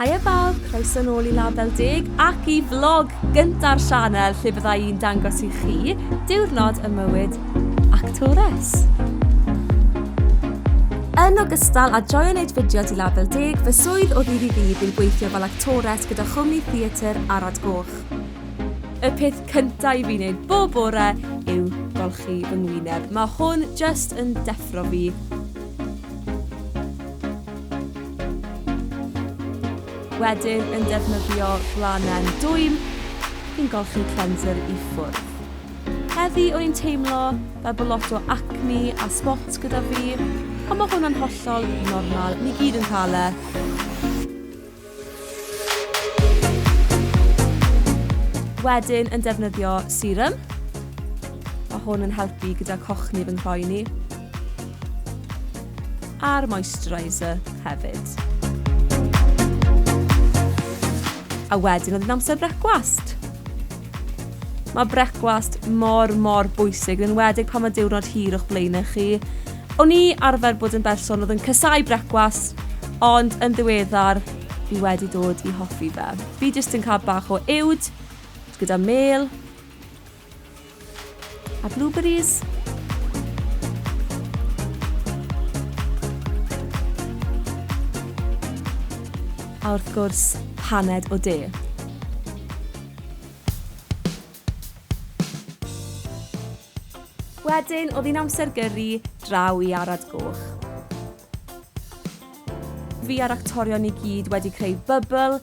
Haia bawb, croeso nôl i Label Deg ac i vlog gynta'r sianel lle bydda i'n dangos i chi diwrnod y mywyd actores. Yn ogystal â joio wneud fideos i Label Deg, fy swydd o ddydd i ddydd yw gweithio fel actores gyda chwmni theatr Arad Goch. Y peth cyntaf i fi wneud bob bore yw golchi fy ngwyneb. Mae hwn just yn deffro fi. Wedyn yn defnyddio flanen dwym i'n golchi cleanser i ffwrdd. Heddi o'n i'n teimlo fel bod lot o acne a spots gyda fi, ond mae hwnna'n hollol normal, ni gyd yn cael e. Wedyn yn defnyddio serum. Mae hwn yn helpu gyda cochni fy nghroen i. a'r moisturiser hefyd. A wedyn oedd yn amser brecwast. Mae brecwast mor, mor bwysig, yn wedig pan mae diwrnod hir o'ch blaenau chi. O'n i arfer bod yn berson oedd yn cysau brecwast, ond yn ddiweddar, fi wedi dod i hoffi fe. Fi jyst yn cael bach o uwd, gyda mêl, A blueberries? A wrth gwrs, paned o de. Wedyn, oedd hi'n amser gyrru draw i Arad Goch. Fi a'r actorion ni gyd wedi creu bubble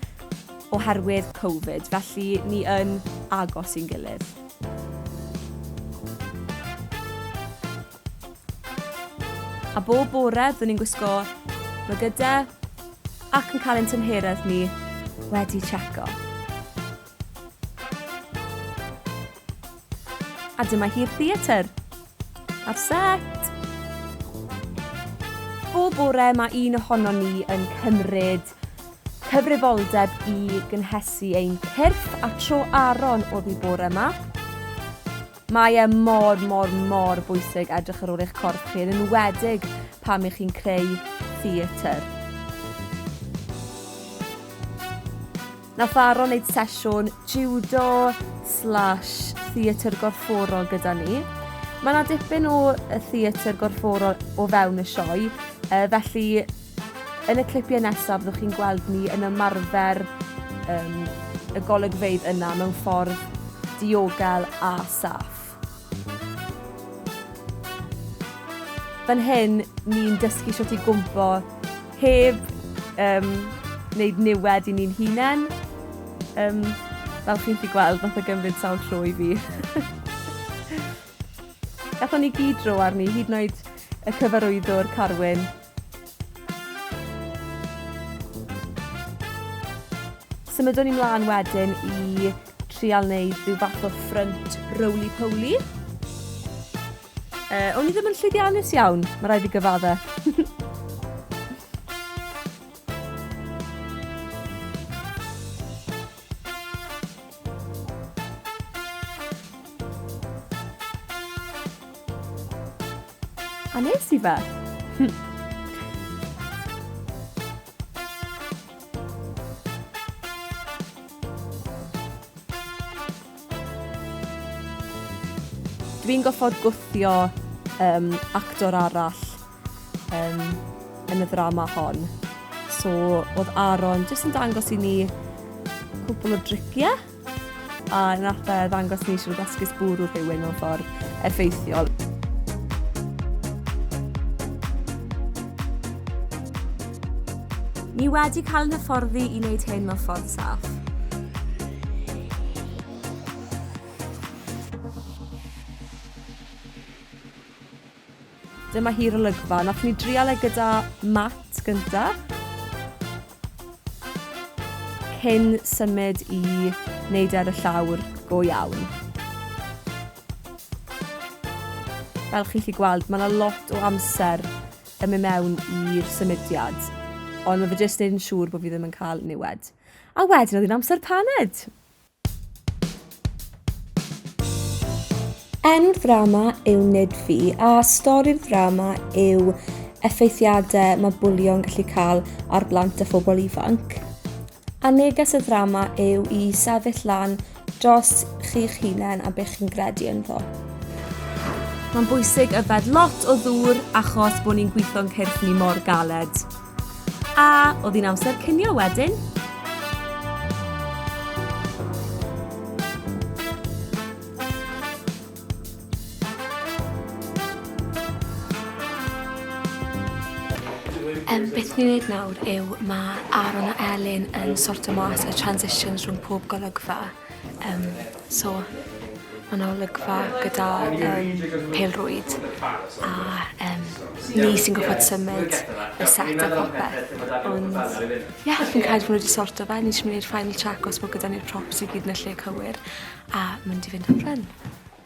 oherwydd Covid, felly ni yn agos i'n gilydd. A bob bore, byddwn ni'n gwisgo mygydau ac yn cael ein tymheredd ni wedi tseco. A dyma hi'r theatr. Ar set! Bob bore mae un ohono ni yn cymryd cyfrifoldeb i gynhesu ein cyrff a tro Aaron oedd i bore yma. Mae e mor, mor, mor bwysig edrych ar ôl eich corff chi, yn enwedig pam ych chi'n creu theatr. Nath Aaron neud sesiwn jiwdo slash theatr gorfforol gyda ni. Mae yna dipyn o theatr gorfforol o fewn y sioe, uh, felly yn y clipiau nesaf fyddwch chi'n gweld ni yn ymarfer um, y golygfeydd yna mewn ffordd diogel a saff. Fan hyn, ni'n dysgu shwt i gwmpo heb yym wneud niwed i ni'n hunen. Yym, fel chi'n gallu gweld, wnaeth e gymryd sawl tro i fi. Gathon ni gyd dro arni, hyd yn oed y cyfarwyddwr, Carwyn. Symudwn ni mlân wedyn i trial wneud rhyw fath o ffrynt roly-poly. Uh, o'n i ddim yn llwyddiannus iawn, mae rhaid i gyfadda. A nes i fe. Dwi'n gorfod gwthio yym actor arall yym yn y ddrama hon. So oedd Aaron jyst yn dangos i ni cwpl o dricie. A yn arfer ddangos ni sut esgus bwrw rhywun mewn ffordd effeithiol. Ni wedi cael yn hyfforddi i wneud hyn mewn ffordd saff. Dyma hi'r olygfa. Wnaethon ni drial e gyda mat gynta. Cyn symud i wneud e ar y llawr go iawn. Fel chi'n gallu gweld, mae yna lot o amser yn mynd mewn i'r symudiad. Ond mae fe jyst yn siŵr bod fi ddim yn cael niwed. A wedyn oedd hi'n amser paned! Enw'r ddrama yw Nid Fi a stori'r ddrama yw effeithiadau mae bwlio'n gallu cael ar blant a phobl ifanc. A neges y ddrama yw i sefyll lan dros chi'ch hunain a beth chi'n gredu ynddo. Mae'n bwysig yfed lot o ddŵr achos bod ni'n gweithio'n cyrff ni mor galed. A oedd hi'n amser cinio wedyn? Um, beth ni'n gwneud nawr yw mae Aaron a Elin yn sortio mas y transitions rhwng pob golygfa. Yym so ma' 'na olygfa gyda yym pêl-rwyd a yym ni sy'n gorffod symud y set a popeth ond ie fi'n credu bo' n'w 'di sorto fe ni jys myn' i neud final check os bo' gyda ni'r props i gyd yn y lle cywir a mynd i fynd am run.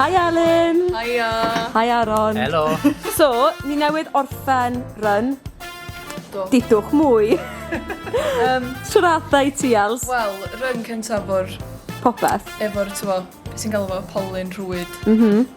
Hi Alun! Hiya! Hi Aaron! Helo! So, ni newydd orffen run. Do. Dudwch mwy! um, Siwrata i ti, Els. Wel, run cyntaf o'r... Popeth. Efo'r, ti'n fo, sy'n galw fo polyn rhwyd. Mhm. Mm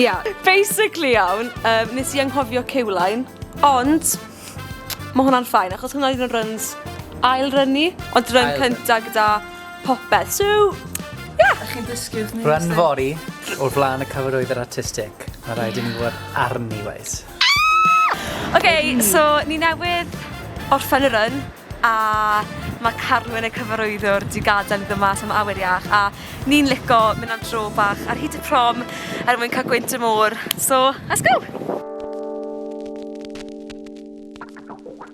Ia, basically iawn, um, nes i anghofio cewlain, ond mae hwnna'n ffain, achos hwnna oedd yn runs ail rynu, ond run cynta gyda popeth. So, ia. Yeah. Chi'n dysgu wrth ni. Run fori o'r flaen y cyfarwydd yr artistic. Mae rhaid i ni fod arni, weis. Oce, so ni newydd orffen y run a ma' Carwyn y cyfarwyddwr 'di gadel i ddod mas am awyr iach a ni'n lico mynd am dro bach ar hyd y prom er mwyn ca'l gwynt y môr, so let's go!